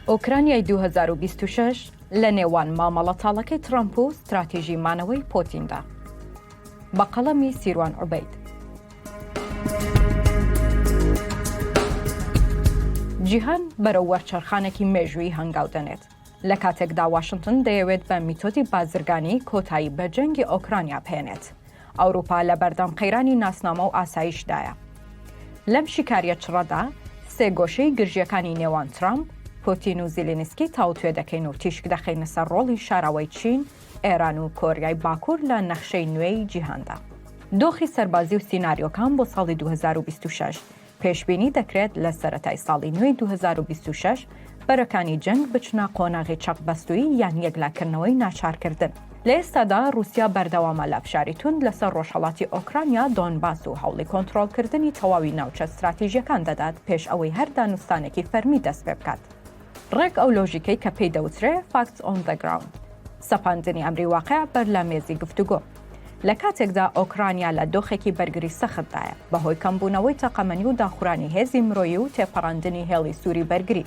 ئۆکرانیای 2026 لە نێوان مامەڵە تاڵەکەی ترامپ و ستراتیژی مانەوەی پۆتیندا بە قەڵەمی سیروان عوبیت جیهان بەرەو وەرچەرخانێکی مێژووی هەنگاو دەنێت لە کاتێکدا واشنتن دەیەوێت بە میتۆدی بازرگانی کۆتایی بە جەنگی ئۆکرانیا بهێنێت ئەوروپا لە بەردەم قەیرانی ناسنامە و ئاسایشدایە لەم شیکاریە چڕەدا سێگۆشەی گرژیەکانی نێوان ترامپ پۆتین و زیلینسکی تاوتوێ دەکەین و تیشک دەخینە سەر ڕۆڵی شاراوەی چین ئێران و کۆریای باکوور لە نەخشەی نوێی جیهاندا دۆخی سەربازی و سیناریۆکان بۆ ساڵی 2026 پێشبینی دەکرێت لە سەرەتای ساڵی نوێی دوو هەزار و بیست و شەش بەرەکانی جەنگ بچنە قۆناغی چەقبەستوویی یان یەکلاکردنەوەی ناچارکردن. لە ئێستادا رووسیا بەردەوامە لە فشاری توند لەسەر رۆژهەڵاتی ئۆکرانیا، دۆنباس و هەوڵی کۆنترۆڵکردنی تەواوی ناوچە ستراتیژییەکان دەدات پێش ئەوەی هەر دانوستانێکی فەرمی دەستپێبکات. ڕێک ئەو لۆژیکەی کە پێی دەوترێ Facts on the Ground، سەپاندنی ئەمری واقع بەر لە مێزی گفتوگۆ. لە کاتێکدا ئۆکرانیا لە دۆخێکی بەرگری سەختدایە، بە هۆی کەمبوونەوەی تەقەمەنی و داخورانی هێزی مرۆیی و تێپەڕاندنی هێڵی سووری بەرگری،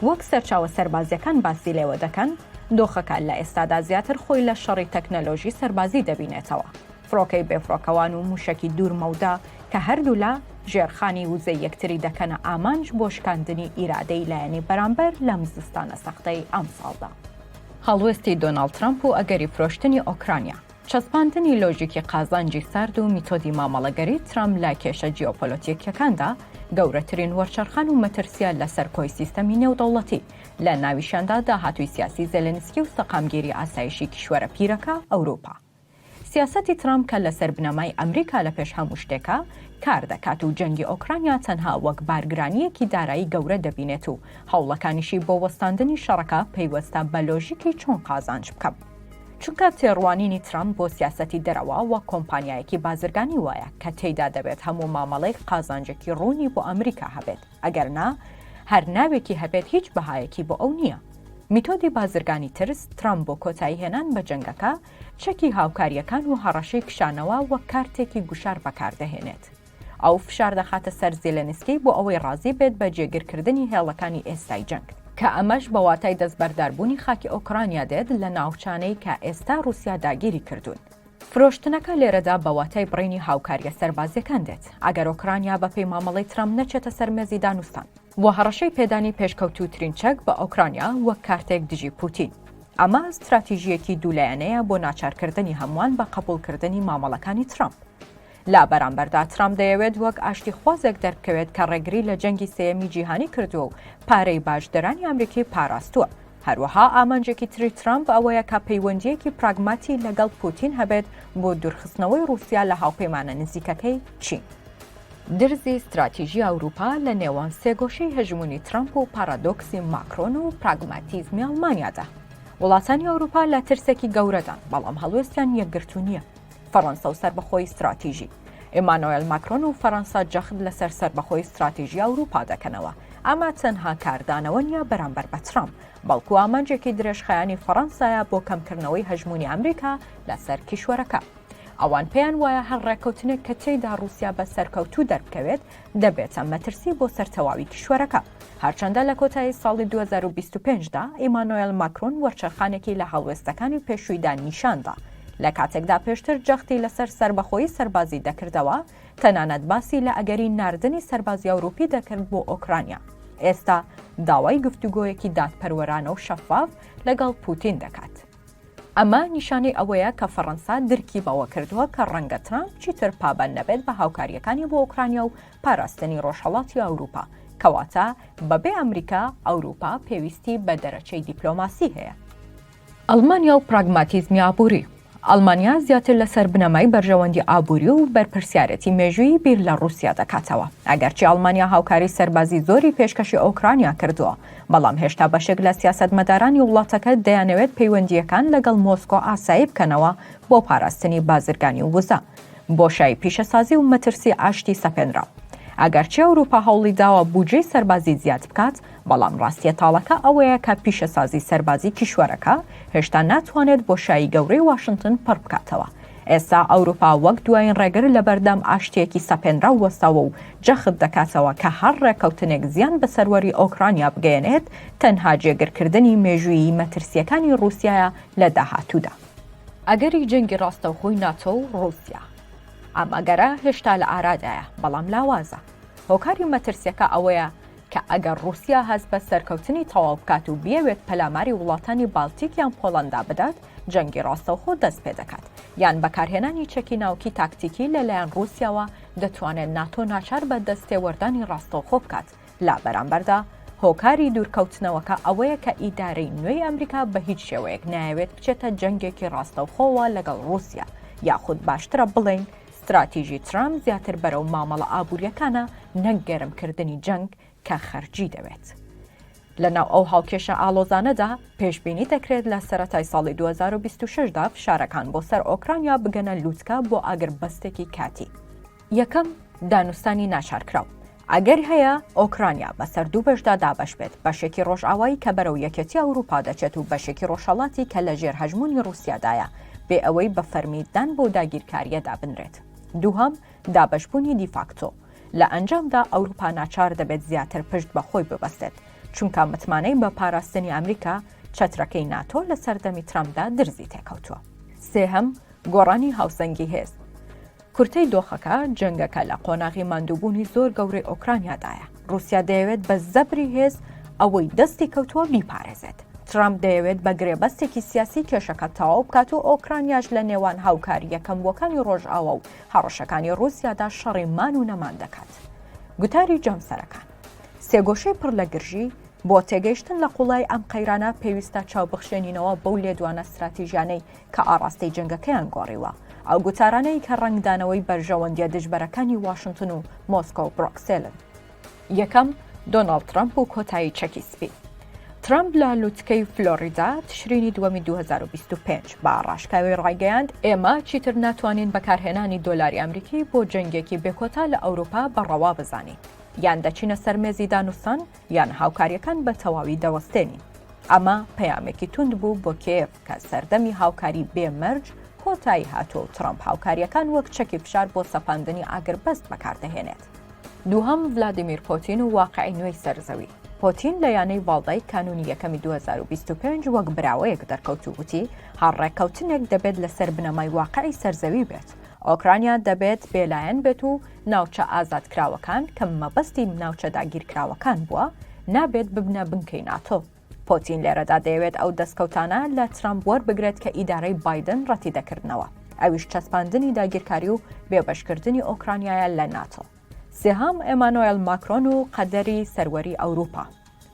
وەک سەرچاوە سەربازییەکان باسی لێوە دەکەن، دۆخەکە لە ئێستادا زیاتر خۆی لە شەڕی تەکنەلۆژی سەربازی دەبینێتەوە. فڕۆکەی بێفڕۆکەوان و مووشەکی دوور مەودا کە هەردوولا ژێرخانی وزەی یەکتری دەکەنە ئامانج بۆ شکاندنی ئیرادەی لایەنی بەرامبەر لەم زستانە سەختەی ئەمساڵدا. هەڵوێستی دۆناڵد ترەمپ و ئەگەری فرۆشتنی ئۆکرانیا، چەسپاندنی لۆژیکی قازانجی سارد و میتۆدی مامەڵەگەری ترەمپ لە کێشە جیۆپۆلۆتیکیەکاندا، گەورەترین وەرچەرخان و مەترسییە لەسەر کۆی سیستەمی نێودەوڵەتی، لە ناویشیاندا داهاتووی سیاسی زێلێنسکی و سەقامگیری ئاسایشی کیشوەرە پیرەکە ئەوروپا. سیاسەتی ترامپ کە لەسەر بنەمای ئەمریکا لە پێش هەموو شتێکە کار دەکات و جەنگی ئۆکرانیا تەنها وەک بارگرانییەکی دارایی گەورە دەبینێت و هەوڵەکانیشی بۆ وەستاندنی شەڕەکە پەیوەستە بە لۆژیکی چۆن قازانج بکەم. چونکە تێڕوانینی ترامپ بۆ سیاسەتی دەرەوە وەک کۆمپانیایەکی بازرگانی وایە کە تێیدا دەبێت هەموو مامەڵەیک قازانجێکی ڕوونی بۆ ئەمریکا هەبێت. ئەگەر نا هەر ناوێکی هەبێت هیچ بەهایەکی بۆ ئەو نییە. میتۆدی بازرگانی ترس، ترامپ بۆ کۆتایی هێنان بە جەنگەکە، چەکی هاوکارییەکان و هەڕەشەی کشانەوە وەک کارتێکی گوشار بەکاردەهێنێت. ئەو فشار دەخاتە سەر زێلێنسکی بۆ ئەوەی ڕازی بێت بە جێگیرکردنی هێڵەکانی ئێستای جەنگ، کە ئەمەش بە واتای دەستبەرداربوونی خاکی ئۆکرانیا دێت لە ناوچانەی کە ئێستا ڕووسیا داگیری کردوون. فرۆشتنەکە لێرەدا بە واتای بڕینی هاوکارییە سەربازییەکان دێت، ئەگەر ئۆکرانیا بەپێی مامەڵەی ترەمپ نەچێتە سەر مێزی دانوستان. و هەڕەشەی پێدانی پێشکەوتووترین چەک بە ئۆکرانیا وەک کارتێک دژی پووتین. ئەمە ستراتیژییەکی دوو لایەنەیە بۆ ناچارکردنی هەمووان بە قەبووڵکردنی مامەڵەکانی ترەمپ. لە بەرامبەردا ترامپ دەیەوێت وەک ئاشتیخوازێک دەربکەوێت کە ڕێگری لە جەنگی سێیەمی جیهانی کردووە و پارەی باجدەرانی ئەمریکی پاراستووە. هەروەها ئامانجێکی تری ترامپ ئەوەیە کە پەیوەندییەکی پراگماتی لەگەڵ پوتین هەبێت بۆ دوورخستنەوەی ڕووسیا لە هاوپەیمانە نزیکەکەی چین. درزی ستراتیژی ئەوروپا لە نێوان سێگۆشەی هەژموونی ترامپ و پارادۆکسی ماکرۆن و پراگماتیزمی ئەڵمانیادا. وڵاتانی ئەوروپا لە ترسێکی گەورەدان، بەڵام هەڵوێستیان یەکگرتوو نییە. فەڕەنسە و سەربەخۆی ستراتیژی. ئیمانۆێل ماکرۆن و فەڕەنسا جەخت لەسەر سەربەخۆی ستراتیژی ئەوروپا دەکەنەوە، ئەمە تەنها کاردانەوە نیە بەرامبەر بە ترەمپ، بەڵکو ئامانجێکی درێژخایەنی فەڕەنسایە بۆ کەمکردنەوەی هەژمونی ئەمریکا لەسەر کیشوەرەکە. ئەوان پێیان وایە هەر ڕێککەوتنێک کە تێیدا ڕوسیا بە سەرکەوتوو دەربکەوێت، دەبێتە مەترسی بۆ سەر تەواوی کیشوەرەکە. هەرچەندە لە کۆتایی ساڵی دوو هەزار و بیست و پێنج دا ئیمانۆێل ماکرۆن وەرچەرخانێکی لە هەڵوێستەکانی پێشوویدا نیشان دا، لە کاتێکدا پێشتر جەختی لەسەر سەربەخۆیی سەربازی دەکردەوە، تەنانەت باسی لە ئەگەری ناردنی سەربازی ئەوروپی دەکرد بۆ ئۆکرانیا، ئێستا داوای گفتوگۆیەکی دادپەروەرانە و شەفاف لەگەڵ پوتین دەکات. ئەمە نیشانەی ئەوەیە کە فەڕەنسا درکی بەوە کردووە کە ڕەنگە ترامپ چیتر پابەند نەبێت بە هاوکارییەکانی بۆ ئۆکرانیا و پاراستنی ڕۆژهەڵاتی ئەوروپا، کەواتە بەبێ ئەمریکا، ئەوروپا پێویستی بە دەرەچەی دیپلۆماسی هەیە. ئەڵمانیا و پراگماتیزمی ئابووری. ئەڵمانیا زیاتر لەسەر بنەمای بەرژەوەندی ئابووری و بەرپرسیارێتی مێژوویی بیر لە ڕووسیا دەکاتەوە. ئەگەرچی ئەڵمانیا هاوکاری سەربازی زۆری پێشکەشی ئۆکرانیا کردووە، بەڵام هێشتا بەشێک لە سیاسەتمەدارانی وڵاتەکە دەیانەوێت پەیوەندییەکان لەگەڵ مۆسکۆ ئاسایی بکەنەوە بۆ پاراستنی بازرگانی و وزە، بۆشایی پیشەسازی و مەترسی ئاشتی سەپێنراو. ئەگەرچی ئەوروپا هەوڵی داوە بودجەی سەربازی زیاد بکات، بەڵام ڕاستیە تاڵەکە ئەوەیە کە پیشەسازی سەربازی کیشوەرەکە هێشتا ناتوانێت بۆشایی گەورەی واشنتن پڕ بکاتەوە، ئێستا ئەوروپا وەک دوایین ڕێگر لەبەردەم ئاشتییەکی سەپێنراو وەستاوە و جەخت دەکاتەوە کە هەر ڕێککەوتنێک زیان بە سەروەری ئۆکرانیا بگەیەنێت تەنها جێگرکردنی مێژوویی مەترسییەکانی ڕووسیایە لە داهاتوودا. ئەگەری جەنگی ڕاستەوخۆی ناتۆ و ڕووسیا. ئەم ئەگەرە هێشتا لە ئارادایە، بەڵام لاوازە. هۆکاری مەترسییەکە ئەوەیە، کە ئەگەر ڕووسیا هەست بە سەرکەوتنی تەواو بکات و بیەوێت پەلاماری وڵاتانی بالتیک یان پۆڵەندا بدات، جەنگی ڕاستەوخۆ دەست پێ دەکات، یان بەکارهێنانی چەکی ناوکی تاکتیکی لە لایەن ڕووسیاوە دەتوانێت ناتۆ ناچار بە دەستێوەردانی ڕاستەوخۆ بکات، لە بەرامبەردا هۆکاری دوورکەوتنەوەکە ئەوەیە کە ئیدارەی نوێی ئەمریکا بە هیچ شێوەیەک نایەوێت بچێتە جەنگێکی ڕاستەوخۆوە لەگەڵ ڕووسیا، یاخود باشترە بڵێین ستراتیژی ترامپ زیاتر بەرەو مامەڵە ئابوورییەکانە نەک گەرمکردنی جەنگ کە خەرجی دەوێت. لەناو ئەو هاوکێشە ئاڵۆزانەدا، پێشبینی دەکرێت لە سەرەتای ساڵی 2026 دا فشارەکان بۆ سەر ئۆکرانیا بگەنە لووتکە بۆ ئاگربەستێکی کاتی. یەکەم، دانوستانی ناچارکراو، ئەگەر هەیە ئۆکرانیا بەسەر دوو بەشدا دابەش بێت، بەشێکی ڕۆژئاوایی کە بەرەو یەکێتی ئەوروپا دەچێت و بەشێکی ڕۆژهەڵاتی کە لەژێر هەژموونی ڕوسیادایە، بێ ئەوەی بە فەرمی دان بەو داگیرکارییەدا بنرێت. دووهەم، دابەشبوونی دیفاکتۆ. لە ئەنجامدا ئەوروپا ناچار دەبێت زیاتر پشت بە خۆی ببەستێت، چونکە متمانەی بە پاراستنی ئەمریکا، چەترەکەی ناتۆ لە سەردەمی ترەمپدا درزی تێکەوتووە. سێهەم، گۆڕانی هاوسەنگی هێز. کورتەی دۆخەکە، جەنگەکە لە قۆناغی ماندووبوونی زۆر گەورەی ئۆکرانیادایە. ڕووسیا دەیەوێت بە زەبری هێز ئەوەی دەستی کەوتووە بیپارێزێت. ترەمپ دەیەوێت بە گرێبەستێکی سیاسی کێشەکە تەواو بکات و ئۆکرانیاش لە نێوان هاوکارییە کەمبووەکانی ڕۆژئاوا و هەڕەشەکانی ڕووسیادا شەڕی مان و نەمان دەکات. گوتاری جەمسەرەکان سێگۆشەی پڕ لە گرژی، بۆ تێگەیشتن لە قوڵایی ئەم قەیرانە پێویستە چاوبخشێنینەوە بەو لێدوانە ستراتیژیانەی کە ئاڕاستەی جەنگەکەیان گۆڕیوە، ئەو گوتارانەی کە ڕەنگدانەوەی بەرژەوەندییە دژبەرەکانی واشنتن و مۆسکۆ و برۆکسێلن. یەکەم، دۆناڵد ترەمپ و کۆتایی چەکی سپی. ترەمپ لە لوتکەی فلۆریدا، تشرینی دووەمی دوو هەزار و بیست و پێنج، بە ڕاشکاوی ڕایگەیاند، ئێمە چیتر ناتوانین بەکارهێنانی دۆلاری ئەمریکی بۆ جەنگێکی بێکۆتا لە ئەوروپا بە ڕەوا بزانین، یان دەچینە سەر مێزی دانوستان، یان هاوکارییەکان بە تەواوی دەوەستێنین. ئەمە پەیامێکی توند بوو بۆ کێیەڤ کە سەردەمی هاوکاری بێ مەرج کۆتایی هاتووە و ترەمپ هاوکارییەکان وەک چەکی فشار بۆ سەپاندنی ئاگربەست بەکاردەهێنێت. دووهەم، ڤلادیمیر پۆتین و واقعی نوێی سەر زەوی. پۆتین لە یانەی ڤاڵدای کانوونی یەکەمی دوو هەزار و بیست و پێنج وەک براوەیەک دەرکەوت و گوتی، هەر ڕێککەوتنێک دەبێت لەسەر بنەمای واقعی سەر زەوی بێت. ئۆکرانیا دەبێت بێلایەن بێت و ناوچە ئازادکراوەکان کە مەبەستی ناوچە داگیرکراوەکان بووە، نابێت ببنە بنکەی ناتۆ. پۆتین لێرەدا دەیەوێت ئەو دەستکەوتانە لە ترەمپ وەربگرێت کە ئیدارەی بایدن ڕەتیدەکردنەوە، ئەویش چەسپاندنی داگیرکاری و بێبەشکردنی ئۆکرانیایە لە ناتۆ. سێهەم، ئێمانۆێل ماکرۆن و قەدەری سەروەری ئەوروپا.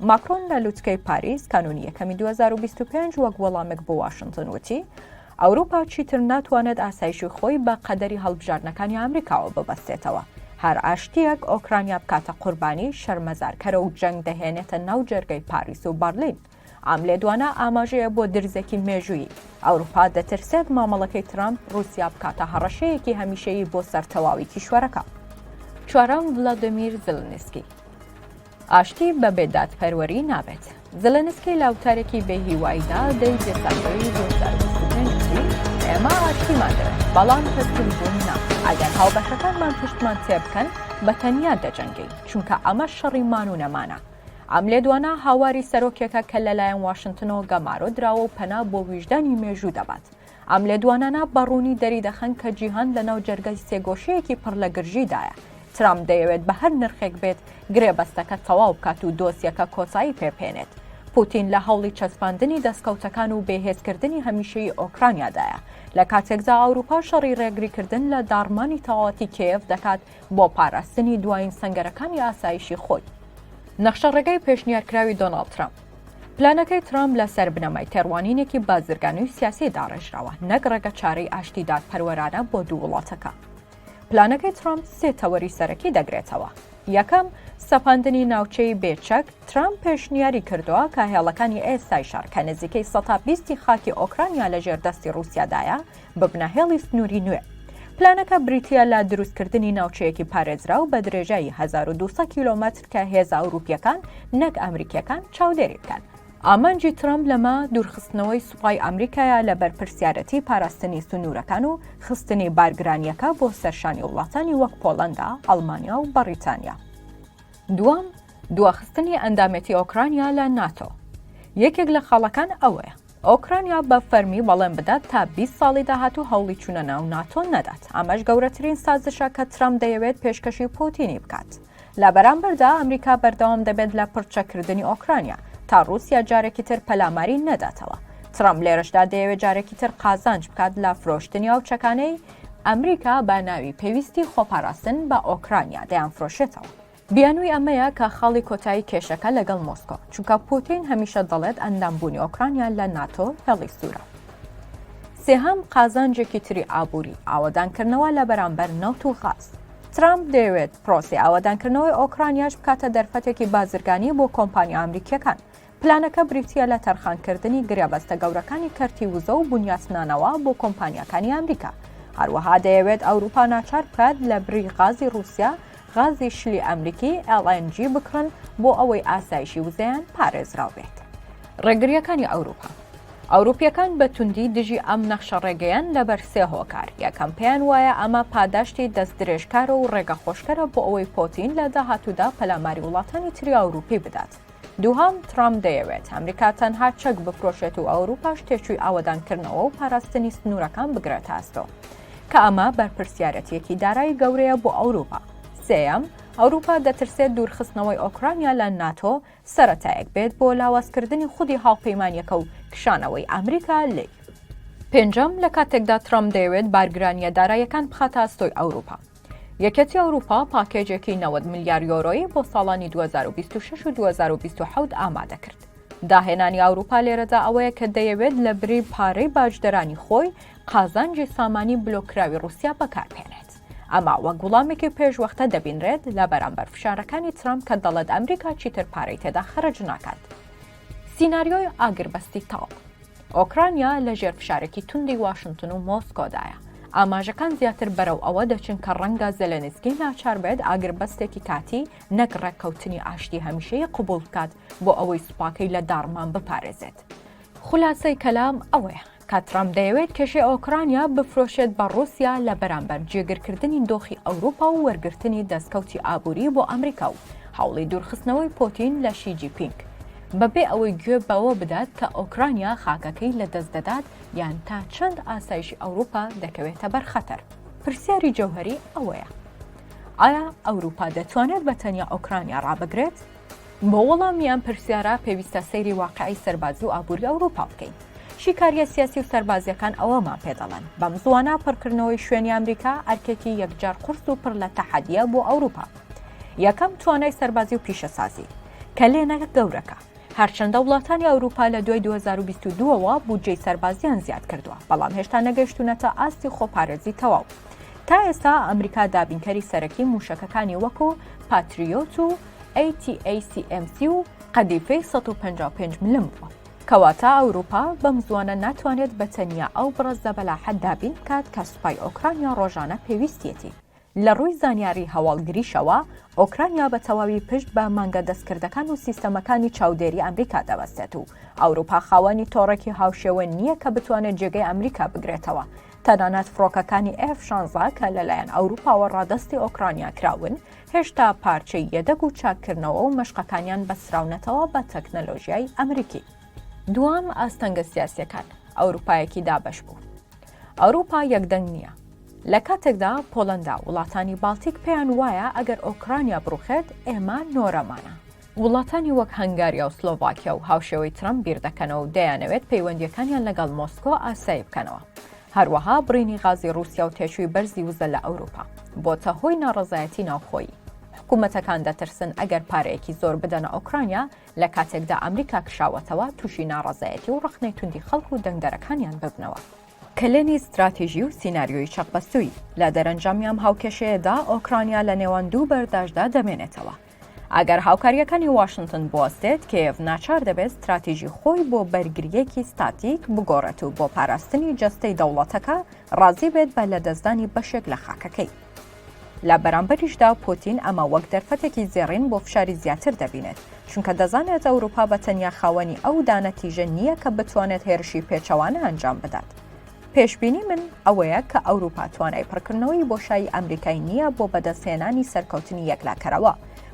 ماکرۆن لە لوتکەی پاریس کانونی یەکەمی 2025 وەک وەڵامێک بۆ واشنتن وتی ئەوروپا چیتر ناتوانێت ئاسایشی خۆی بە قەدەری هەڵبژاردنەکانی ئەمریکاوە ببەستێتەوە هەر ئاشتیەک ئۆکرانیا بکاتە قوربانی شەرمەزارکەرە و جەنگ دەهێنێتە ناو جەرگەی پاریس و بەرلین ئەم لێدوانە ئاماژەیە بۆ درزێکی مێژووی ئەوروپا دەترسێت مامەڵەکەی ترامپ رووسیا بکاتە هەڕەشەیەکی هەمیشەیی بۆ سەرتەواوی کیشوەرەکە چوارەم ڤلادمیر زلنسکی ئاشتی بە بێ دادپەروەری نابێت. زلنسکی لە وتارێکی بێ هیواییدا دەی دێسامبەری 2025 ئێمە ئاشتیمان دەوێت بەڵام تەسلیم بوون نا ئەگەر هاوبەشەکانمان پشتمان تێ بکەن بە تەنیا دەجەنگین چونکە ئەمە شەڕی مان و نەمانە ئەم لێدوانە هاواری سەرۆکێکە کە لەلایەن واشنتنەوە گەمارۆ دراوە و پەنا بۆ ویژدانی مێژوو دەبات ئەم لێدوانانە بە ڕوونی دەریدەخەن کە جیهان لەناو جەرگەی سێگۆشەیەکی پڕ لە گرژیدایە. ترامپ دەیەوێت بە هەر نرخێک بێت گرێبەستەکە تەواو بکات و دۆسیەکە کۆتایی پێبهێنێت. پوتین لە هەوڵی چەسپاندنی دەستکەوتەکان و بێهێزکردنی هەمیشەیی ئۆکرانیادایە لە کاتێکدا ئەوروپا شەڕی ڕێگریکردن لە داڕمانی تەواوەتی کێف دەکات بۆ پاراستنی دوایین سەنگەرەکانی ئاسایشی خۆی نەخشە ڕێگای پێشنیارکراوی دۆناڵد ترامپ پلانەکەی ترامپ لەسەر بنەمای تێڕوانینێکی بازرگانی و سیاسی داڕێژراوە نەک ڕێگە چارەی ئاشتی دادپەروەرانە بۆ دوو وڵاتەکە. پلانەکەی ترامپ سێ تەوەری سەرەکی دەگرێتەوە. یەکەم سەپاندنی ناوچەی بێچەک ترام پێشنیاری کردووە کە هێڵەکانی ئێستای شار کە نزیکەی 120 خاکی ئۆکرانیا لە ژێر دەستی رووسیادایە بە بناهێڵی سنووری نوێ. پلانەکە بریتیە لە دروستکردنی ناوچەیەکی پارێزراو بە درێژایی 1200 کیلۆمەتر کە هێزە ئەوروپیەکان نەک ئەمریکیەکان چاودێری بکەن. ئامانجی ترامپ لەمە دوورخستنەوەی سوپای ئەمریکایە لە بەرپرسیارەتی پاراستنی سنوورەکان و خستنی بارگرانیەکە بۆ سەرشانی وڵاتانی وەک پۆڵەندا، ئەڵمانیا و بەڕیتانیا. دووەم، دواخستنی ئەندامێتی ئۆکرانیا لە ناتۆ. یەکێک لە خاڵەکان ئەوەیە. ئۆکرانیا بە فەرمی بەڵێن بدات تا بیست ساڵی داهاتوو هەوڵی چوونە ناو ناتۆ نەدات ئەمەش گەورەترین سازشە کە ترەمپ دەیەوێت پێشکەشی پوتینی بکات لە بەرامبەردا ئەمریکا بەردەوام دەبێت لە پڕچەکردنی ئۆکرانیا تا رووسیا جارێکی تر پەلاماری نەداتەوە ترەمپ لێرەشدا دەیەوێت جارێکی تر قازانج بکات لە فرۆشتنی ئەو چەکانەی ئەمریکا بە ناوی پێویستی خۆپاراستن بە ئۆکرانیا دەیان فرۆشێتەوە بیانووی ئەمەیە کە خاڵی کۆتایی کێشەکە لەگەڵ مۆسکۆ، چونکە پووتین هەمیشە دەڵێت ئەندامبوونی ئۆکرانیا لە ناتۆ هێڵی سوورە. سێهەم، قازانجێکی تری ئابووری، ئاوەدانکردنەوە لە بەرامبەر نەوت و غاز. ترامپ دەیەوێت پرۆسەی ئاوەدانکردنەوەی ئۆکرانیاش بکاتە دەرفەتێکی بازرگانی بۆ کۆمپانیا ئەمریکییەکان، پلانەکە بریتییە لە تەرخانکردنی گرێبەستە گەورەکانی کەرتی وزە و بنیاتنانەوە بۆ کۆمپانیاکانی ئەمریکا. هەروەها دەیەوێت ئەوروپا ناچار بکات لە بری غازی رووسیا، غازی شلی ئەمریکی، LNG، بکڕن بۆ ئەوەی ئاسایشی وزەیان پارێزراو بێت. ڕێگرییەکانی ئەوروپا ئەوروپییەکان بە توندی دژی ئەم نەخشە ڕێگەیەن لەبەر سێ هۆکار، یەکەم پێیان وایە ئەمە پاداشتی دەستدرێژکارە و ڕێگەخۆشکەرە بۆ ئەوەی پۆتین لە داهاتوودا پەلاماری وڵاتانی تری ئەوروپی بدات. دووهەم، ترامپ دەیەوێت ئەمریکا تەنها چەک بفرۆشێت و ئەوروپاش تێچووی ئاوەدانکردنەوە و پاراستنی سنوورەکان بگرێتە ئەستۆ کە ئەمە بەرپرسیارەتیەکی دارایی گەورەیە بۆ ئەوروپا سێەم ئەوروپا دەترسێت دوورخستنەوەی ئۆکرانیا لە ناتۆ سەتایەک بێت بۆ لاوازکردنی خودی هاوپەیمانیەکە و کشانەوەی ئەمریکا لی پێنجەم لە کاتێکدا ترامپ دەیەوێت بارگرانیە دارایەکان بخاتە ئەستۆی ئەوروپا یەکێتی ئەوروپا پاکێجێکی نەوەد ملیار یۆرۆیی بۆ ساڵانی 2026 و 2027 ئامادە کرد. داهێنانی ئەوروپا لێرەدا ئەوەیە کە دەیەوێت لە بری پارەی باجدەرانی خۆی قازانجی سامانی بلۆکراوی رووسیا بەکاربهێنێت. ئەمە وەک وڵامێکی پێشوەختە دەبینرێت لە بەرامبەر فشارەکانی ترامپ کە دەڵێت ئەمریکا چیتر پارەی تێدا خەرج ناکات. سیناریۆی ئاگربەستی تاو. ئۆکرانیا لە ژێر فشارێکی توندی واشنتن و مۆسکۆدایە. ئاماژەکان زیاتر بەرەو ئەوە دەچن کە ڕەنگە زەلێنسکی ناچار بێت ئاگربەستێکی کاتی نەک ڕێککەوتنی ئاشتی هەمیشەیی قبوڵ بکات بۆ ئەوەی سوپاکەی لە داڕمان بپارێزێت. خولاسەی کەلام ئەوەیە کە ترامپ دەیەوێت کێشەی ئۆکرانیا بفرۆشێت بە ڕووسیا لە بەرامبەر جێگرکردنی دۆخی ئەوروپا و وەرگرتنی دەستکەوتی ئابووری بۆ ئەمریکا و هەوڵی دوورخستنەوەی پۆتین لە شی جی پینگ. بەبێ ئەوەی گوێ بەوە بدات کە ئۆکرانیا خاکەکەی لەدەست دەدات یان تا چەند ئاسایشی ئەوروپا دەکەوێتە بەر خەتەر پرسیاری جەوهری ئەوەیە ئایا ئەوروپا دەتوانێت بە تەنیا ئۆکرانیا ڕابگرێت بۆ وەڵامیان پرسیارە پێویستە سەیری واقعی سەربازی و ئابووری ئەوروپا بکەین شیکاریە سیاسی و سەربازیەکان ئەوەمان پێدەڵێن بەم زوانە پڕکردنەوەی شوێنی ئەمریکا ئەرکێکی یەکجار قرس و پڕ لە تەحەدیە بۆ ئەوروپا یەکەم توانای سەربازی و پیشەسازی کەلێنە گەورەکە، هەرچەندە وڵاتانی ئەوروپا لە دوای 2022 وە بودجەی سەربازیان زیاد کردووە، بەڵام هێشتا نەگەیشتوونەتە ئاستی خۆپارێزی تەواو. تا ئێستا ئەمریکا دابینکەری سەرەکی مووشەکەکانی وەکو پاتریۆت و ATACMC و قەدیفەی 155 ملم بووە. کەواتە ئەوروپا بەم زوانە ناتوانێت بە تەنیا ئەو بڕە زەبەلاحە دابین بکات کە سوپای ئۆکرانیا ڕۆژانە پێویستیەتی. لە ڕووی زانیاری هەواڵگریشەوە، ئۆکرانیا بە تەواوی پشت بە مانگە دەستکردەکان و سیستەمەکانی چاودێری ئەمریکا دەبەستێت و ئەوروپا خاوەنی تۆڕێکی هاوشێوە نییە کە بتوانێت جێگەی ئەمریکا بگرێتەوە. تەنانەت فڕۆکەکانی ئێف شانزە کە لەلایەن ئەوروپاوە ڕادەستی ئۆکرانیا کراون، هێشتا پارچەی یەدەگ و چاککردنەوە و مەشقەکانیان بەستراونەتەوە بە تەکنەلۆژیای ئەمریکی. دووەم، ئاستەنگە سیاسییەکان، ئەوروپایەکی دابەش بوو. ئەوروپا یەکدەنگ نییە. لە کاتێکدا پۆڵەندا وڵاتانی باڵتیک پێیان وایە ئەگەر ئۆکرانیا بڕوخێت ئێمە نۆرەمانە. وڵاتانی وەک هەنگاریا و سلۆڤاکیا و هاوشێوەی ترەمپ بیردەکەنەوە و دەیانەوێت پەیوەندیەکانیان لەگەڵ مۆسکۆ ئاسایی بکەنەوە. هەروەها بڕینی غازی رووسیا و تێچووی بەرزی وزە لە ئەوروپا بۆتە هۆی ناڕەزایەتی ناوخۆیی. حکوومەتەکان دەترسن ئەگەر پارەیەکی زۆر بدەنە ئۆکرانیا لە کاتێکدا ئەمریکا کشاوەتەوە تووشی ناڕەزایەتی و ڕخنەی توندی خەڵک و دەنگدەرەکانیان ببنەوە. کلێنی ستراتیژی و سیناریۆی چەقبەستووی، لە دەرەنجامی ئەم هاوکێشەیەدا ئۆکرانیا لە نێوان دوو بەرداشدا دەمێنێتەوە. ئەگەر هاوکارییەکانی واشنتن بوەستێت، کێیەڤ ناچار دەبێت ستراتیژی خۆی بۆ بەرگرییەکی ستاتیک بگۆڕێت و بۆ پاراستنی جەستەی دەوڵەتەکە ڕازی بێت بە لەدەستدانی بەشێک لە خاکەکەی. لە بەرامبەریشدا پوتین ئەمە وەک دەرفەتێکی زێڕین بۆ فشاری زیاتر دەبینێت، چونکە دەزانێت ئەوروپا بە تەنیا خاوەنی ئەو دانە تیژە نییە کە بتوانێت هێرشی پێچەوانە ئەنجام بدات. پێشبینی من ئەوەیە کە ئەوروپا توانای پڕکردنەوەی بۆشایی ئەمریکای نییە بۆ بەدەستهێنانی سەرکەوتنی یەکلاکەرەوە،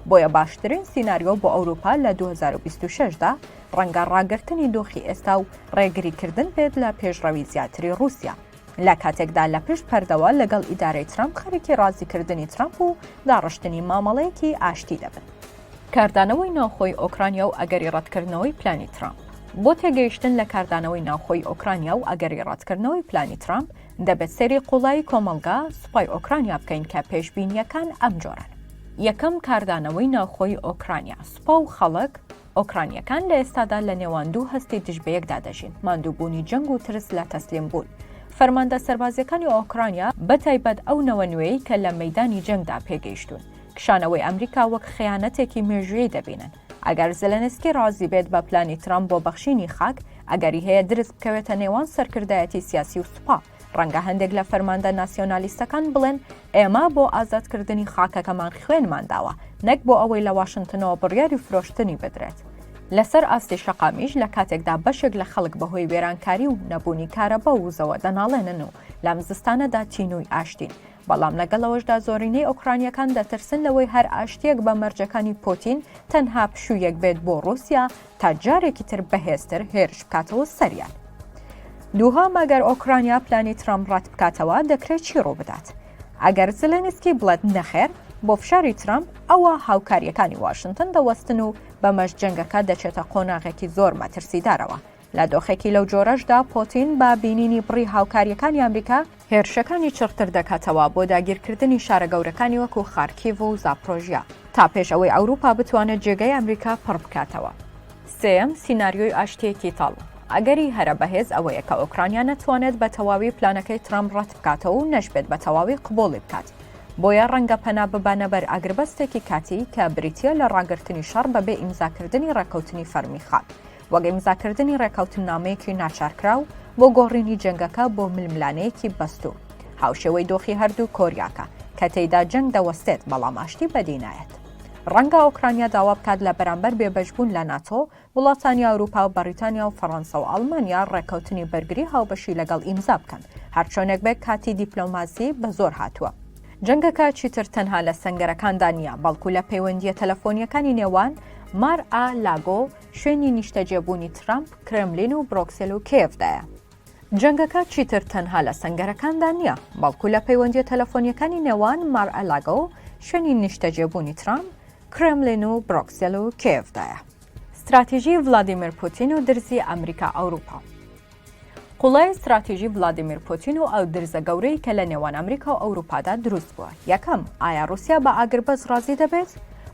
بۆیە باشترین سیناریۆ بۆ ئەوروپا لە دوو هەزار و بیست و شەش دا ڕەنگە ڕاگرتنی دۆخی ئێستا و ڕێگریکردن بێت لە پێشڕەوی زیاتری ڕووسیا. لە کاتێکدا لە پشت پەردەوە لەگەڵ ئیدارەی ترامپ خەریکی ڕازیکردنی ترامپ و داڕشتنی مامەڵەیەکی ئاشتی دەبن. کاردانەوەی ناوخۆی ئۆکرانیا و ئەگەری ڕەتکردنەوەی پلانی ترامپ بۆ تێگەیشتن لە کاردانەوەی ناوخۆی ئۆکرانیا و ئەگەری ڕەتکردنەوەی پلانی ترامپ دەبێت سەیری قوڵایی کۆمەڵگا سوپای ئۆکرانیا بکەین کە پێشبینیەکان ئەم جۆران یەکەم کاردانەوەی ناوخۆی ئۆکرانیا سوپا و خەڵک ئۆکرانییەکان لە ئێستادا لە نێوان دوو هەستی دژ بە یەکدا دەژین، ماندووبوونی جەنگ و ترس لە تەسلیم بوون. فەرماندە سەربازییەکانی ئۆکرانیا، بە تایبەت ئەو نەوە نوێیەی کە لە مەیدانی جەنگدا پێگەیشتوون، کشانەوەی ئەمریکا وەک خەیانەتێکی مێژوویی دەبینن. ئەگەر زێلێنسکی ڕازی بێت بە پلانی ترامپ بۆ بەخشینی خاک، ئەگەری هەیە درز بکەوێتە نێوان سەرکردایەتی سیاسی و سوپا. ڕەنگە هەندێک لە فەرماندە ناسیۆنالیستەکان بڵێن ئێمە بۆ ئازادکردنی خاکەکەمان خوێنمان داوە نەک بۆ ئەوەی لە واشنگتنەوە بڕیاری فرۆشتنی بدرێت. لەسەر ئاستی شەقامیش لە کاتێکدا بەشێک لە خەڵک بەهۆی وێرانکاری و نەبوونی کارەبا و وزەوە دەناڵێنن و لەم زستانەدا تینووی ئاشتین بەڵام لەگەڵ ئەوەشدا زۆرینەی ئۆکرانییەکان دەترسن لەوەی هەر ئاشتییەک بە مەرجەکانی پۆتین تەنها پشوویەک بێت بۆ ڕووسیا تا جارێکی تر بەهێزتر هێرش بکاتەوە سەریان. دووهەم ئەگەر ئۆکرانیا پلانی ترامپ ڕەت بکاتەوە دەکرێت چی ڕووبدات؟ ئەگەر زلێنسکی بڵێت نەخێر بۆ فشاری ترامپ ئەوە هاوکارییەکانی واشنتن دەوەستن و بەمەش جەنگەکە دەچێتە قۆناغێکی زۆر مەترسیدارەوە لە دۆخێکی لەو جۆرەشدا پۆتین بە بینینی بڕی هاوکاریەکانی ئەمریکا، هێرشەکانی چڕتر دەکاتەوە بۆ داگیرکردنی شارە گەورەکانی وەکو خارکیڤ و زاپرۆژیا، تا پێش ئەوەی ئەوروپا بتوانێت جێگەی ئەمریکا پڕ بکاتەوە. سێیەم، سیناریۆی ئاشتیەکی تاڵ. ئەگەری هەرە بەهێز ئەوەیە کە ئۆکرانیا نەتوانێت بە تەواوی پلانەکەی ترەمپ ڕەت بکاتەوە و نەشبێت بە تەواوی قبوڵی بکات. بۆیە ڕەنگە پەنا ببەنە بەر ئاگربەستێکی کاتی کە بریتیە لە ڕاگرتنی شەڕ بەبێ ئیمزاکردنی ڕێکەوتنی فەرمی خاک. وەک ئیمزاکردنی ڕێککەوتننامەیەکی ناچارکراو بۆ گۆڕینی جەنگەکە بۆ ململانێیەکی بەستوو، هاوشێوەی دۆخی هەردوو کۆریاکە، کە تێیدا جەنگ دەوەستێت بەڵام ئاشتی بەدی نایەت. ڕەنگە ئۆکرانیا داوا بکات لە بەرامبەر بێبەشبوون لە ناتۆ، وڵاتانی ئەوروپا و بەڕیتانیا و فەڕەنسا و ئەڵمانیا ڕێککەوتنی بەرگری هاوبەشی لەگەڵ ئیمزا بکەن، هەرچۆنێک بێت کاتی دیپلۆماسی بەزۆر هاتووە. جەنگەکە چیتر تەنها لە سەنگەرەکاندا نییە، بەڵکو لە پەیوەندییە تەلەفۆنییەکانی نێوان مار ئا لاگۆ، شوێنی نیشتەجێبوونی ترەمپ کرێملین و برۆکسێل و کێڤدایە. جەنگەکە چیتر تەنها لە سەنگەرەکاندا نییە، بەڵکو لە پەیوەندییە تەلەفۆنییەکانی نێوان مار-ئە-لاگۆ و شوێنی نیشتەجێبوونی ترەمپ، کرێملین و برۆکسێل و کێڤدایە. ستراتیژی ڤلادیمیر پوتین و درزی ئەمریکا-ئەوروپا. قوڵایی ستراتیژی ڤلادیمیر پوتین و ئەو درزە گەورەی کە لە نێوان ئەمریکا و ئەوروپادا دروست بووە یەکەم ئایا رووسیا بە ئاگربەس ڕازی دەبێت؟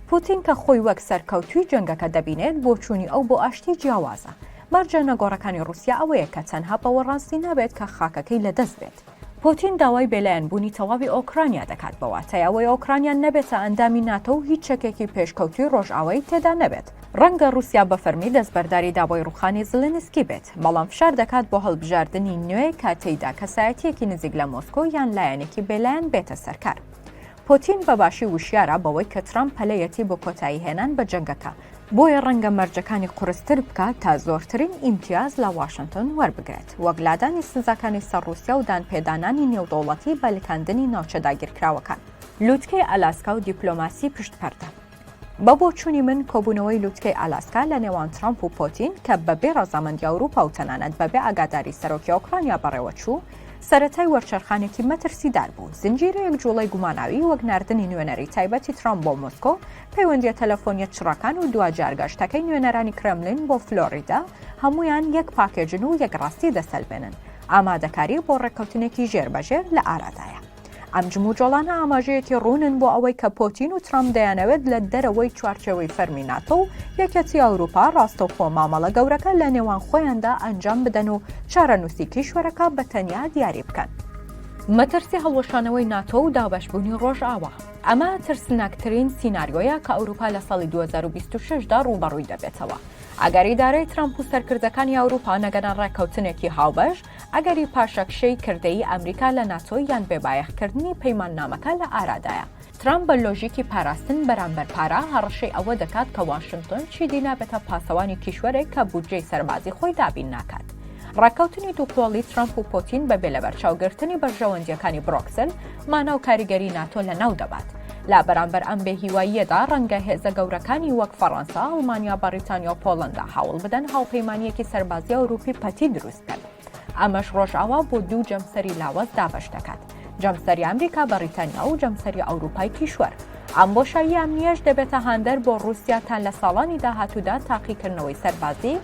پوتین کە خۆی وەک سەرکەوتوی جەنگەکە دەبینێت بۆچوونی ئەو بۆ ئاشتی جیاوازە مەرجە نەگۆڕەکانی رووسیا ئەوەیە کە تەنها بەوە ڕاستی نابێت کە خاکەکەی لەدەست بێت پوتین داوای بێلایەن بوونی تەواوی ئۆکرانیا دەکات بە واتای ئەوەی ئۆکرانیا نەبێتە ئەندامی ناتۆ و هیچ چەکێکی پێشکەوتووی ڕۆژئاوایی تێدا نەبێت. ڕەنگە ڕووسیا بە فەرمی دەستبەرداری داوای ڕووخانی زلێنسکی بێت، بەڵام فشار دەکات بۆ هەڵبژاردنی نوێ کە تێیدا کەسایەتییەکی نزیک لە مۆسکۆ یان لایەنێکی بێلایەن بێتە سەرکار. پۆتین بە باشی وشیارە بەوەی کە ترەمپ پەلەیەتی بۆ کۆتایی هێنان بە جەنگەکە، بۆیە ڕەنگە مەرجەکانی قورستر بکات تا زۆرترین ئیمتیاز لە واشنتن وەربگرێت، وەک لادانی سزاکانی سەر ڕووسیا و دانپێدانانی نێودەوڵەتی بە لکاندنی ناوچە داگیرکراوەکان. لووتکەی ئالاسکا و دیپلۆماسی پشت پەردە. بە بۆچوونی من کۆبوونەوەی لوتکەی ئالاسکا لە نێوان ترامپ و پۆتین کە بەبێ ڕەزامەندی ئەوروپا و تەنانەت بەبێ ئاگاداری سەرۆکی ئۆکرانیا بەڕێوەچوو سەرەتای وەرچەرخانێکی مەترسیدار بوو زنجیرەیەک جوڵەی گوماناوی وەک ناردنی نوێنەری تایبەتی ترامپ بۆ مۆسکۆ پەیوەندیە تەلەفۆنیە چڕەکان و دواجار گەشتەکەی نوێنەرانی کرملین بۆ فلۆریدا هەمویان یەک پاکێجن و یەک ڕاستی دەسەلمێنن ئامادەکاری بۆ ڕێککەوتنێکی ژێر بەژێر لە ئارادایە ئەم جموجۆڵانە ئاماژەیەکی ڕوونن بۆ ئەوەی کە پۆتین و ترامپ دەیانەوێت لە دەرەوەی چوارچێوەی فەرمی ناتۆ و یەکێتی ئەوروپا ڕاستەوخۆ مامەڵە گەورەکە لە نێوان خۆیاندا ئەنجام بدەن و چارەنووسی کیشوەرەکە بە تەنیا دیاری بکەن. مەترسی هەڵوەشانەوەی ناتۆ و دابەشبوونی ڕۆژئاوا. ئەمە ترسناکترین سیناریۆیە کە ئەوروپا لە ساڵی 2026 دا ڕووبەڕووی دەبێتەوە. ئەگەر ئیدارەی ترامپ و سەرکردەکانی ئەوروپا نەگەنە ڕێککەوتنێکی هاوبەش، ئەگەری پاشەکشەی کردەیی ئەمریکا لە ناتۆ یان بێبایەخکردنی پەیماننامەکە لە ئارادایە. ترامپ بە لۆژیکی پاراستن بەرامبەر پارە، هەڕەشەی ئەوە دەکات کە واشنتۆن چیدی نابێتە پاسەوانی کیشوەرێک کە بودجەی سەربازی خۆی دابین ناکات. ڕێککەوتنی دووقۆڵی ترامپ و پۆتین بەبێ لەبەرچاوگرتنی بەرژەوەندییەکانی برۆکسل، مانا و کاریگەری ناتۆ لەناو دەبات. لە بەرامبەر ئەم بێهیواییەدا، ڕەنگە هێزە گەورەکانی وەک فەڕەنسا، ئەڵمانیا، بەڕیتانیا و پۆڵەندا هەوڵ بدەن هاوپەیمانییەکی سەربازی ئەوروپی پەتی دروست بکەن. ئەمەش ڕۆژئاوا بۆ دوو جەمسەری لاوەز دابەش دەکات، جەمسەری ئەمریکا، بەڕیتانیا و جەمسەری ئەوروپای کیشوەر. ئەم بۆشایی ئەمنییەش دەبێتە هاندەر بۆ ڕووسیا تا لە ساڵانی داهاتوودا تاقیکردنەوەی سەربازی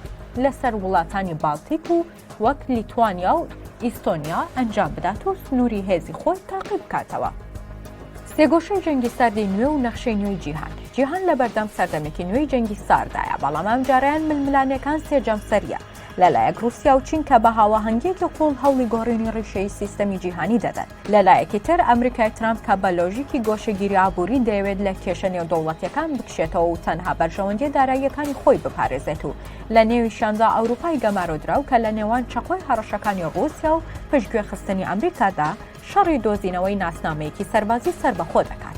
لەسەر وڵاتانی بالتیک و وەک لیتوانیا و ئیستۆنیا ئەنجام بدات و سنووری هێزی خۆی تاقی بکاتەوە. سێگۆشەی جەنگی ساردی نوێ و نەخشەی نوێی جیهان جیهان لە بەردەم سەردەمێکی نوێی جەنگی ساردایە، بەڵام ئەمجارەیان ململانێکان سێ جەمسەرییە، لەلایەک ڕووسیا و چین کە بە هاواهەنگیەکی قووڵ هەوڵی گۆڕینی ڕیشەی سیستەمی جیهانی دەدەن لەلایەکی تر ئەمریکای ترامپ کە بە لۆژیکی گۆشەگیری ئابووری دەیەوێت لە کێشە نێودەوڵەتیەکان بکشێتەوە و تەنها بەرژەوەندیە داراییەکانی خۆی بپارێزێت و لە نێویشاندا ئەوروپای گەمارۆدراو کە لە نێوان چەقۆی هەڕەشەکانی ڕووسیا و پشتگوێ خستنی ئەمریکادا شەڕی دۆزینەوەی ناسنامەیەکی سەربازی سەربەخۆ دەکات.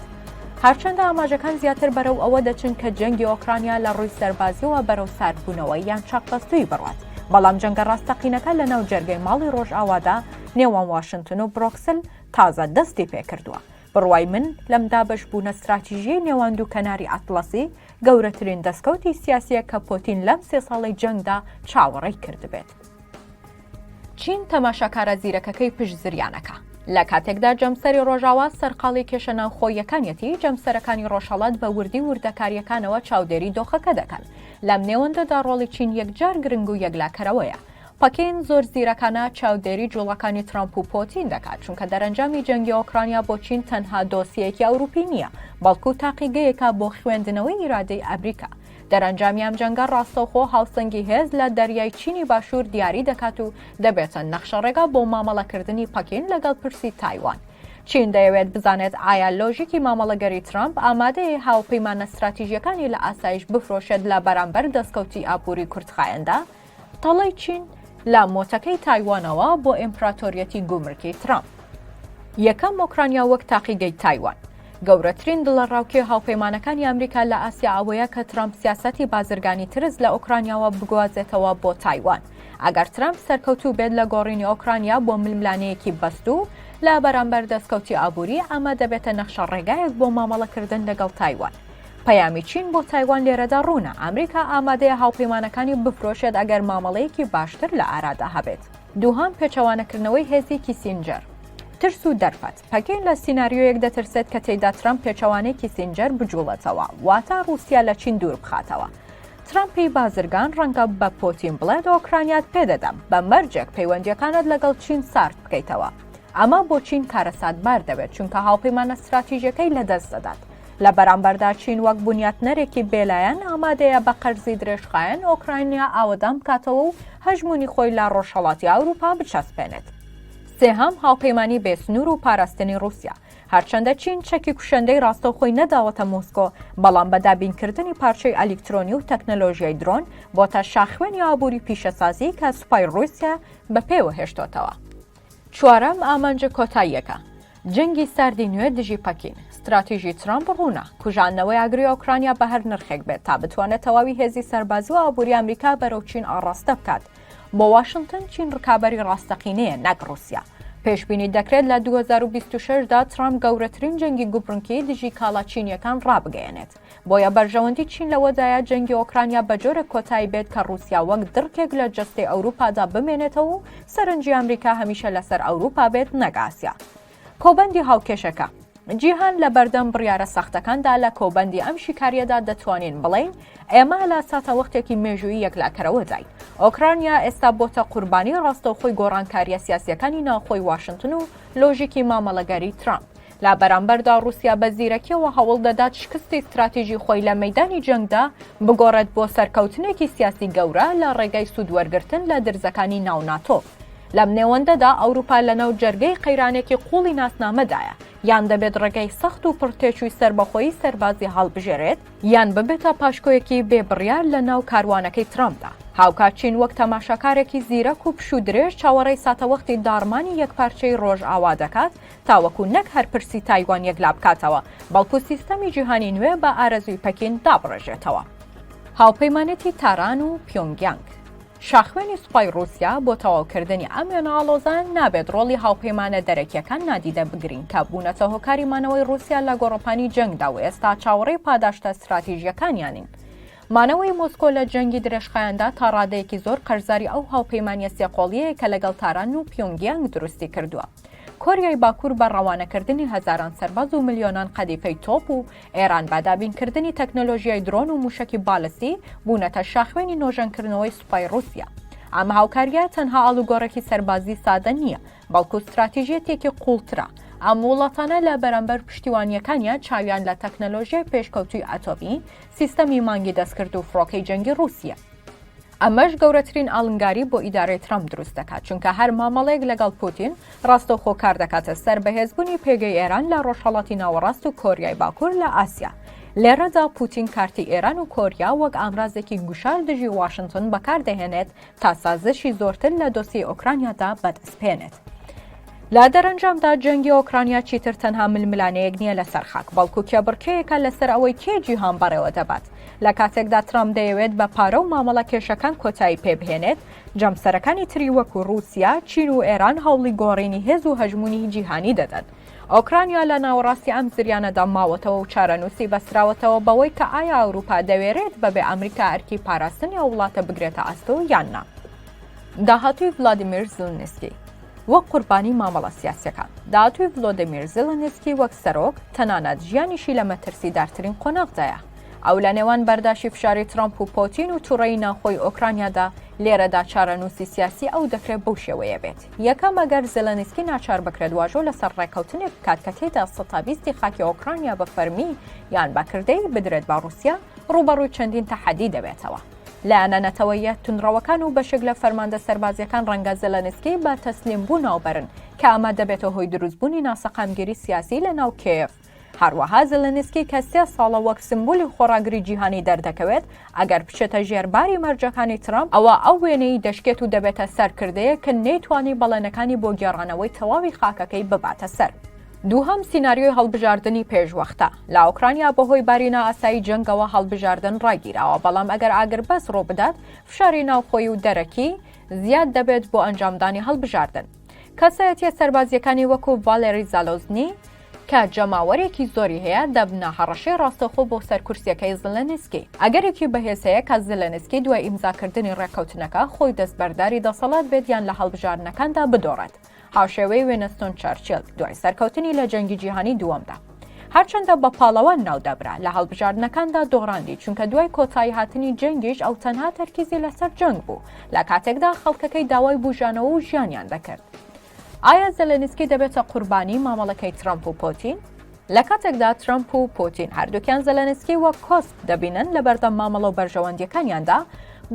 هەرچەندە ئاماژەکان زیاتر بەرەو ئەوە دەچن کە جەنگی ئۆکرانیا لە ڕووی سەربازیەوە بەرەو ساردبوونەوە یان چەقبەستووی بڕوات، بەڵام جەنگە ڕاستەقینەکە لەناو جەرگەی ماڵی ڕۆژئاوادا نێوان واشنتن و برۆکسل تازە دەستی پێکردووە. بڕوای من لەم دابەشبوونە ستراتیژیەی نێوان دوو کەناری ئەتڵەسی گەورەترین دەستکەوتی سیاسیە کە پۆتین لەم سێ ساڵەی جەنگدا چاوەڕێی کردبێت. چین تەماشاکارە زیرەکەکەی پشت زریانەکە. لە کاتێکدا جەمسەری ڕۆژاوا سەرقاڵی کێشە ناوخۆییەکانیەتی، جەمسەرەکانی ڕۆژهەڵات بە وردی وردەکارییەکانەوە چاودێری دۆخەکە دەکەن. لەم نێوەندەدا ڕۆڵی چین یەکجار گرنگ و یەکلاکەرەوەیە. پەکین زۆر زیرەکانە چاودێری جووڵەکانی ترەمپ و پۆتین دەکات، چونکە دەرەنجامی جەنگی ئۆکرانیا بۆ چین تەنها دۆسیەیەکی ئەوروپی نییە، بەڵکو تاقیگەیەکە بۆ خوێندنەوەی ئیرادەی ئەمریکا. دەرەنجامی ئەم جەنگە ڕاستەوخۆ هاوسەنگی هێز لە دەریای چینی باشوور دیاری دەکات و دەبێتە نەخشەڕێگا بۆ مامەڵەکردنی پەکین لەگەڵ پرسی تایوان. چین دەیەوێت بزانێت ئایا لۆژیکی مامەڵەگەری ترامپ ئامادەیە هاوپەیمانە ستراتیژییەکانی لە ئاسایش بفرۆشێت لە بەرامبەر دەستکەوتی ئابووری کورتخایەندا، تەڵەی چین لە مۆتەکەی تایوانەوە بۆ ئیمپراتۆریەتی گومرکی ترامپ. یەکەم ئۆکرانیا وەک تاقیگەی تایوان. گەورەترین دڵەڕاوکێ هاوپەیمانەکانی ئەمریکا لە ئاسیا ئەوەیە کە ترامپ سیاسەتی بازرگانی ترس لە ئۆکرانیاوە بگوازێتەوە بۆ تایوان ئەگەر ترامپ سەرکەوتوو بێت لە گۆڕینی ئۆکرانیا بۆ ململانەیەکی بەستوو لە بەرامبەر دەستکەوتی ئابووری ئەمە دەبێتە نەخشە ڕێگایەک بۆ مامەڵەکردن لەگەڵ تایوان پەیامی چین بۆ تایوان لێرەدا ڕوونە ئەمریکا ئامادەیە هاوپەیمانەکانی بفرۆشێت ئەگەر مامەڵەیەکی باشتر لە ئارادا هەبێت دووهام پێچەوانەکردنەوەی هێزی کیسینجەر ترس و دەرفەت پەکین لە سینناریۆیەک دەترسێت کە تێیدا ترامپ پێچەوانەی کیسینجەر بجوڵێتەوە واتا رووسیا لە چین دوور بخاتەوە ترامپی بازرگان ڕەنگە بە پۆتین بڵێت ئۆکرانیات پێدەدەم بە مەرجێک پەیوەندیەکانت لەگەڵ چین سارد بکەیتەوە ئەمە بۆ چین کارەساتبار دەبێت چونکە هاوپەیمانە استراتیژەکەی لەدەست دەدات لە بەرامبەردا چین وەک بنیاتنەرێکی بێلایەن ئامادەیە بە قەرزی درێژخایەن ئۆکراینیا ئاوەدان بکاتەوە و هەژمونی خۆی لە ڕۆژهەڵاتی ئەوروپا بچەسپێنێت. سێهەم هاوپەیمانی بێسنوور و پاراستنی رووسیا هەرچەندە چین چەکی کوشندەی ڕاستەوخۆی نەداوەتە مۆسکۆ بەڵام بە دابینکردنی پارچەی ئەلیکترۆنی و تەکنەلۆژیای درۆن بۆتە شاخوێنی ئابووری پیشەسازی کە سوپای رووسیا بە پێوە هێشتۆتەوە چوارەم ئامانجە کۆتاییەکە، جەنگی ساردی نوێ دژی پەکین. ستراتیژی ترەمپ ڕوونە، کوژاندنەوەی ئاگری ئۆکرانیا بە هەر نرخێک بێت تا بتوانێت تەواوی هێزی سەربازی و ئابووری ئەمریکا بەرەو چین ئاڕاستە بکات. بۆ واشنتن چین ڕکابەری ڕاستەقینەیە نەک ڕووسیا. پێشبینی دەکرێت لە 2026 دا ترامپ گەورەترین جەنگی گوبرنکی دژی کاڵا چینیەکان ڕابگەیەنێت. بۆیە بەرژەوەندی چین لەوەدایە جەنگی ئۆکرانیا بە جۆرێک کۆتایی بێت کە ڕوسیا وەک دڕکێک لە جەستەی ئەوروپادا بمێنێتەوە و سەرنجی ئەمریکا هەمیشە لەسەر ئەوروپا بێت نەک ئاسیا کۆبەندی هاوکێشەکە جیهان لە بەردەم بڕیارە سەختەکاندا لە کۆبەندی ئەم شیکاریەدا دەتوانین بڵین ئێمە لە ساتەوەختێکی مێژووی یەکلاکەرەوەداین ئۆکرانیا ئێستا بۆتە قوربانی ڕاستەوخۆی گۆڕانکاریە سیاسیەکانی ناوخۆی واشنتن و لۆژیکی مامەڵەگەری ترامپ لە بەرامبەردا ڕووسیا بە زیرەکیەوە هەوڵ دەدات شکستی ستراتیژی خۆی لە مەیدانی جەنگدا بگۆڕێت بۆ سەرکەوتنێکی سیاسی گەورە لە ڕێگای سوودوەرگرتن لە درزەکانی ناو ناتۆ. لەم نێوەندەدا ئەوروپا لەناو جەرگەی قەیرانێکی قووڵی ناسنامەدایە، یان دەبێت ڕێگای سەخت و پڕ تێچووی سەربەخۆیی سەربازی هەڵبژێرێت، یان ببێتە پاشکۆیەکی بێ بڕیار لەناو کاروانەکەی ترامپدا. هاوکات چین وەک تەماشاکارێکی زیرەک و پشوودرێژ چاوەڕێی ساتەوەختی داڕمانی یەکپارچەی ڕۆژئاوا دەکات، تاوەکو نەک هەر پرسی تایوان یەکلابکاتەوە، بەڵکو سیستەمی جیهانی نوێ بە ئارەزووی پەکین دابڕێژێتەوە. هاوپەیمانێتی تاران و پیۆنگیانگ، شاخوێنی سوپای ڕووسیا، بۆ تەواوکردنی ئەم وێنە ئاڵۆزە، نابێت ڕۆڵی هاوپەیمانە دەرەکییەکان نادیدە بگرین کە بوونەتە هۆکاری مانەوەی ڕووسیا لە گۆڕەپانی جەنگدا و ئێستا چاوەڕێی پاداشتە ستراتیژییەکانیانین. مانەوەی مۆسکۆ لە جەنگی درێژخایەندا تا ڕادەیەکی زۆر قەرزاری ئەو هاوپەیمانییە سێ قۆڵییەیە کە لەگەڵ تاران و پیۆنگیانگ دروستی کردووە. کۆریای باکوور بە ڕەوانەکردنی هەزاران سەرباز و ملیۆنان قەدیفەی تۆپ و ئێران بە دابینکردنی تەکنەلۆژیای درۆن و مووشەکی بالستی بوونەتە شاخوێنی نۆژەنکردنەوەی سوپای ڕووسیا. ئەم هاوکارییە تەنها ئاڵوگۆڕێکی سەربازی سادە نییە، بەڵکو ستراتیژیەتێکی قوڵترە، ئەم وڵاتانە لە بەرامبەر پشتیوانییەکانیان چاویان لە تەکنەلۆژیای پێشکەوتووی ئەتۆمی، سیستەمی مانگی دەستکرد و فڕۆکەی جەنگی ڕووسیە. ئەمەش گەورەترین ئاڵنگاری بۆ ئیدارەی ترامپ دروست دەکات، چونکە هەر مامەڵەیەک لەگەڵ پوتین ڕاستەوخۆ کار دەکاتە سەر بەهێزبوونی پێگەی ئێران لە ڕۆژهەڵاتی ناوەڕاست و کۆریای باکوور لە ئاسیا. لێرەدا پوتین کارتی ئێران و کۆریا وەک ئامرازێکی گوشار دژی واشنتن بەکاردەهێنێت تا سازشی زۆرتر لە دۆسیەی ئۆکرانیادا بەدەستبهێنێت. لە دەرەنجامدا جەنگی ئۆکرانیا چیتر تەنها ململانێیەک نییە لەسەر خاک، بەڵکو کێبڕکێیەکە لەسەر ئەوەی کێ جیهان بەڕێوە دەبات. لە کاتێکدا ترامپ دەیەوێت بە پارە و مامەڵە کێشەکان کۆتایی پێبهێنێت، جەمسەرەکانی تری وەکو ڕووسیا، چین و ئێران هەوڵی گۆڕینی هێز و هەژموونی جیهانی دەدەن. ئۆکرانیا لە ناوەڕاستی ئەم زریانەدا ماوەتەوە و چارەنووسی بەستراوەتەوە بەوەی کە ئایا ئەوروپا دەوێرێت بەبێ ئەمریکا ئەرکی پاراستنی ئەو وڵاتە بگرێتە ئەستۆ یان نا داهاتوی ڤلادیمیر زلنسکی وەک قوربانی مامەڵە سیاسەکان داهاتوی ڤلۆدیمیر زلنسکی وەک سەرۆک تەنانەت ژیانیشی لە مەترسیدارترین قۆناغدایە ئەو لە نێوان بەرداشی فشاری ترامپ و پۆتین و توڕەی ناخۆی ئۆکرانیادا لێرەدا چارەنووسی سیاسی ئەو دەکرێت بەو شێوەیە بێت. یەکەم، ئەگەر زێلێنسکی ناچار بکرێت واژۆ لەسەر ڕێککەوتنێک بکات کە تێیدا سەتا بیستی خاکی ئۆکرانیا بە فەرمی یان بە کردەیی بدرێت بە ڕووسیا، ڕووبەڕووی چەندین تەحەدی دەبێتەوە. لایەنە نەتەوەییە توندڕەوەکان و بەشێک لە فەرماندە سەربازییەکان ڕەنگە زێلێنسکی بە تەسلیمبوو ناو بەرن، کە ئەمە دەبێتە هۆی دروستبوونی ناسەقامگیری سیاسی لەناو کێیەڤ. هەروەها زلنسکی کە سێ ساڵە وەک سمبولی خۆڕاگری جیهانی دەردەکەوێت، ئەگەر بچێتە ژێر باری مەرجەکانی ترەمپ، ئەوا ئەو وێنەی دەشکێت و دەبێتە سەرکردەیەک کە نەیتوانی بەڵێنەکانی بۆ گێڕانەوەی تەواوی خاکەکەی بباتە سەر. دووهەم سیناریۆی هەڵبژاردنی پێشوەختە. لە ئۆکرانیا بەهۆی باری نائاسایی جەنگەوە هەڵبژاردن ڕاگیراوە، بەڵام ئەگەر ئاگربەست ڕووبدات، فشاری ناوخۆیی و دەرەکی زیاد دەبێت بۆ ئەنجامدانی هەڵبژاردن. کەسایەتییە سەربازییەکانی وەکو ڤالێری زالۆزنی، کە جەماوەرێکی زۆری هەیە دەبنە هەڕەشەی ڕاستەوخۆ بۆ سەر کورسیەکەی زلنسکی. ئەگەرێکی بەهێز هەیە کە زلنسکی دوای ئیمزاکردنی ڕێککەوتنەکە خۆی دەستبەرداری دەسەڵات بێت یان لە هەڵبژاردنەکاندا بدۆڕێت، هاوشێوەی وینستۆن چەرچیل دوای سەرکەوتنی لە جەنگی جیهانی دووەمدا. هەرچەندە بە پاڵەوان ناودەبرا، لە هەڵبژاردنەکاندا دۆڕاندی، چونکە دوای کۆتاییهاتنی جەنگیش ئەو تەنها تەرکیزی لەسەر جەنگ بوو، لە کاتێکدا خەڵکەکەی داوای بوژانەوە و ژیانیان دەکرد. ئایا زێلێنسکی دەبێتە قوربانی مامەڵەکەی ترەمپ و پۆتین؟ لە کاتێکدا ترەمپ و پۆتین هەردووکیان زێلێنسکی وەک کۆسپ دەبینن لە بەردەم مامەڵە و بەرژەوەندیەکانیاندا،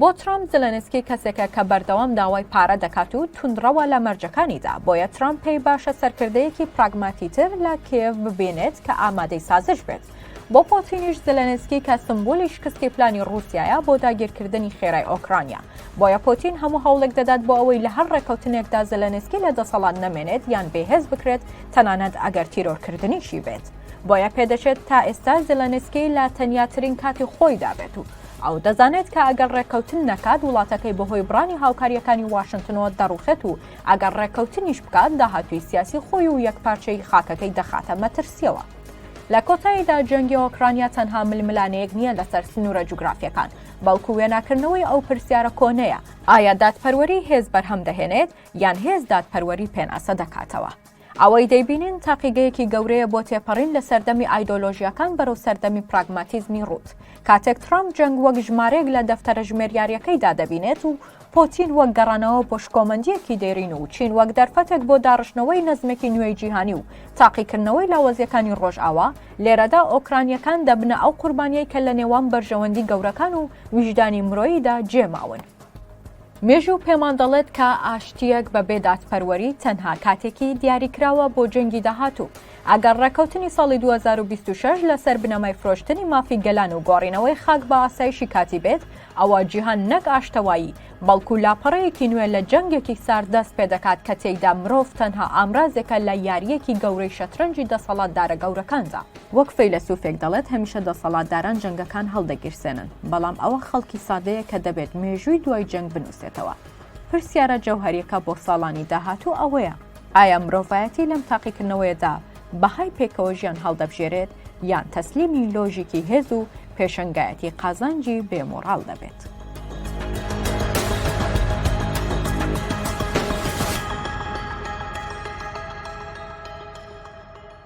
بۆ ترەمپ زێلێنسکی کەسێکە کە بەردەوام داوای پارە دەکات و توندڕەوە لە مەرجەکانیدا، بۆیە ترەمپ پێی باشە سەرکردەیەکی پراگماتیتر لە کیێڤ ببینێت کە ئامادەی سازش بێت. بۆ پۆتینیش زلەنسکی کە سمبولی شکستی پلانی رووسایە بۆ داگیرکردنی خێرای ئۆکرانیا بۆیە پۆتین هەموو هەوڵێک دەدات بۆ ئەوەی لە هەر ڕێککەوتنێکدا زلەنسکی لە دەسەڵات نەمێنێت یان بێهێز بکرێت تەنانەت ئەگەر تیرۆرکردنیشی بێت بۆیە پێدەچێت تا ئێستا زلەنسکی لە تەنیاترین کاتی خۆی دابێت و ئەو دەزانێت کە ئەگەر ڕێککەوتن نەکات وڵاتەکەی بەهۆی بڕانی هاوکاریەکانی واشنتنەوە دەڕوخێت و ئەگەر ڕێککەوتنیش بکات داهاتوی سیاسی خۆی و یەکپارچەی خاکەکەی دەخاتە مەترسیەوە لە کۆتاییدا جەنگی ئۆکرانیا تەنها ململانێیەک نییە لەسەر سنوورە جوگرافیەکان، بەڵکو وێناکردنەوەی ئەو پرسیارە کۆنەیە، ئایا دادپەروەری هێز بەرهەم دەهێنێت یان هێز دادپەروەری پێناسە دەکاتەوە؟ ئەوەی دەیبینین تاقیگەیەکی گەورەیە بۆ تێپەڕین لە سەردەمی ئایدۆلۆژیاکان بەرەو سەردەمی پراگماتیزمی ڕووت. کاتێک ترامپ جەنگ وەک ژمارەیەک لە دەفتەرە ژمێریارییەکەیدا دەبینێت و پۆتین وەک گەڕانەوە بۆ شکۆمەندییەکی دێرین و چین وەک دەرفەتێک بۆ داڕشتنەوەی نەزمێکی نوێی جیهانی و تاقیکردنەوەی لاوەزییەکانی ڕۆژئاوا، لێرەدا ئۆکرانییەکان دەبنە ئەو قوربانییەی کە لە نێوان بەرژەوەندی گەورەکان و ویژدانی مرۆییدا جێ ماون. مێژوو پێمان دەڵێت کە ئاشتییەک بە بێ دادپەروەری تەنها کاتێکی دیاریکراوە بۆ جەنگی داهاتوو. ئەگەر ڕێککەوتنی ساڵی 2026 لەسەر بنەمای فرۆشتنی مافی گەلان و گۆڕینەوەی خاک بە ئاسایشی کاتی بێت، ئەوە جیهان نەک ئاشتەوایی، بەڵکو لاپەڕەیەکی نوێ لە جەنگێکی سارد دەست پێدەکات کە تێیدا مرۆڤ تەنها ئامرازێکە لە یارییەکی گەورەی شەترەنجی دەسەڵاتدارە گەورەکاندا. وەک فەیلەسوفێک دەڵێت هەمیشە دەسەڵاتداران جەنگەکان هەڵدەگیرسێنن، بەڵام ئەوە خەڵکی سادەیە کە دەبێت مێژووی دوای جەنگ بنووسێتەوە. پرسیارە جەوهەرییەکە بۆ ساڵانی داهاتوو ئەوەیە، ئایا مرۆڤایەتی لەم تاقیکردنەوەیەدا بەهای پێکەوە ژیان هەڵدەبژێرێت یان تەسلیمی لۆژیکی هێز و پێشەنگایەتی قازانجی بێمۆڕاڵ دەبێت.